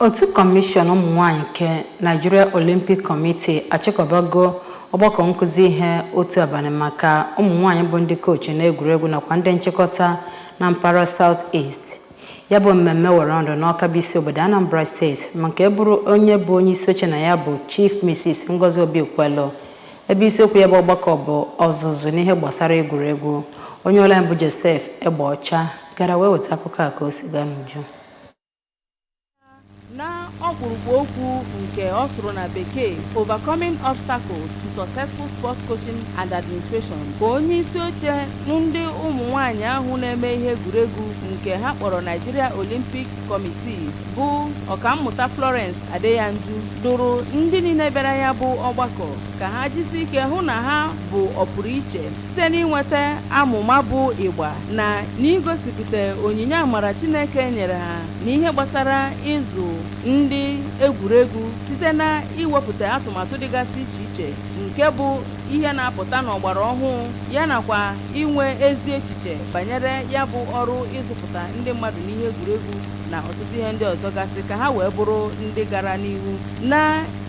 Otu kọmishọn ụmụnwaanyị nke Nigeria Olympic Committee achịkọbago ọgbakọ nkụzi ihe otu abalị maka ụmụnwaanyị bụ ndị koochi n'egwuregwu nakwa ndị nchịkọta na mpaghara South East. Ya bụ mmemme were ọnọdụ n'Awka bụ isi obodo Anambra Steeti ma nke bụrụ onye bụ onyeisioche na ya bụ Chief Mrs. Ngozi Obikwelu ebe isiokwu ya bụ ọgbakọ bụ ọzụzụ n'ihe gbasara egwuregwu. Onye ụlọ anyị bụ Joseph Egbeọcha gara wee weta akụkọ a ka o si gaa n'uju. na ọkpụrụkpụ okwu nke ọ sụrụ na bekee overcoming obstacles to successful sports coaching and administration ka onye isi oche ndị ụmụ nwanyị ahụ na-eme ihe egwuregwu nke ha kpọrọ Nigeria Olympic Committee bụ ọkammụta Florence Adeyanju dụrụ ndị niile bịara ya bụ ọgbakọ ka ha jisi ike hụ na ha bụ ọpụrụ iche Site n'inweta amụma bụ ịgba na n'igosipụta onyinye amara Chineke nyere ha n'ihe gbasara ịzụ ndị egwuregwu site na iwepụta atụmatụ dịgasị iche iche nke bụ ihe na-apụta n'ọgbara ọhụụ ya nakwa inwe ezi echiche banyere ya bụ ọrụ ịzụpụta ndị mmadụ n'ihe egwuregwu na ọtụtụ ihe ndị ọzọ gasị ka ha wee bụrụ ndị gara n'ihu na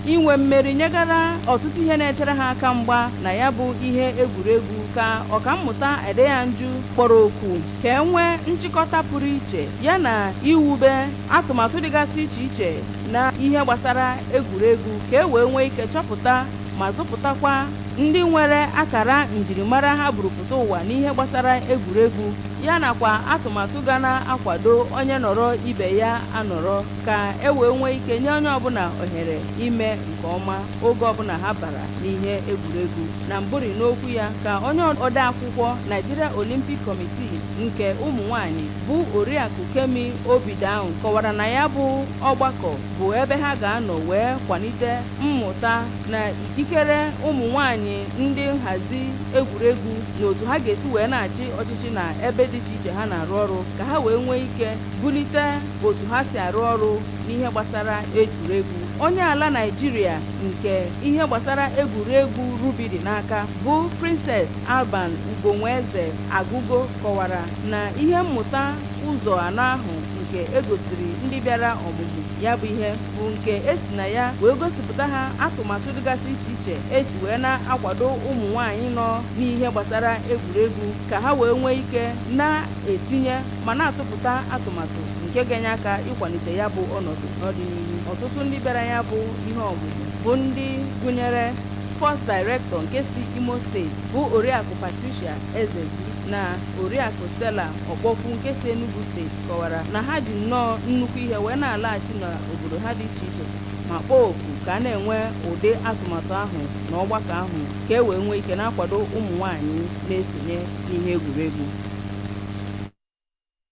Inwe mmeri nyegara ọtụtụ ihe na-echere ha aka mgba na ya bụ ihe egwuregwu ka ọkammụta Adeyanju kpọrọ oku ka e nwee nchịkọta pụrụ iche ya na iwube atụmatụ dịgasị iche iche na ihe gbasara egwuregwu ka e wee nwee ike chọpụta ma zụpụtakwa ndị nwere akara njirimara ha burupụta ụwa n'ihe gbasara egwuregwu ya nakwa atụmatụ ga na-akwado onye nọrọ ibe ya anọrọ ka e wee nwee ike nye onye ọbụla ohere ime nke ọma oge ọbụla ha bara n'ihe egwuregwu na mbụri n'okwu ya ka onye ode akwụkwọ Nigeria Olympic Committee nke ụmụ nwanyị bụ oriakụ Kemi Obidown kọwara na ya bụ ọgbakọ bụ ebe ha ga-anọ wee kwalite mmụta na ikikere ụmụ nwanyị ndị nhazi egwuregwu na otu ha ga-esi wee na-achị ọchịchị na ebe dị iche iche ha na-arụ ọrụ ka ha wee nwee ike bulite otu ha si arụ ọrụ n'ihe gbasara egwuregwu onye ala naijiria nke ihe gbasara egwuregwu rugby dị n'aka bụ princess alban ugonwaeze agụgo kọwara na ihe mmụta ụzọ anọ ahụ nke egosiri ndị bịara ọmụmụ ya bụ ihe bụ nke esi na ya wee gosipụta ha atụmatụ dịgasị iche iche esi wee na-akwado ụmụ nwaanyị nọ n'ihe gbasara egwuregwu ka ha wee nwee ike na-etinye ma na-atụpụta atụmatụ nke ga-enye aka ịkwalite ya bụ ọnọdụ n'ọdịnihu ọtụtụ ndị bịara ya bụ ihe ọmụmụ bụ ndị gụnyere sports director nke si imo steeti bụ oriakụ patricia ezeji na oriakụ stella ọkpọkwu nke si enugu steeti kọwara na ha ji nnọọ nnukwu ihe wee na-alaghachi n'obodo ha dị iche iche ma kpọọ oku ka a na-enwe ụdị atụmatụ ahụ na ọgbakọ ahụ ka e wee nwee ike na-akwado ụmụ nwaanyị na-esonye n'ihe egwuregwu.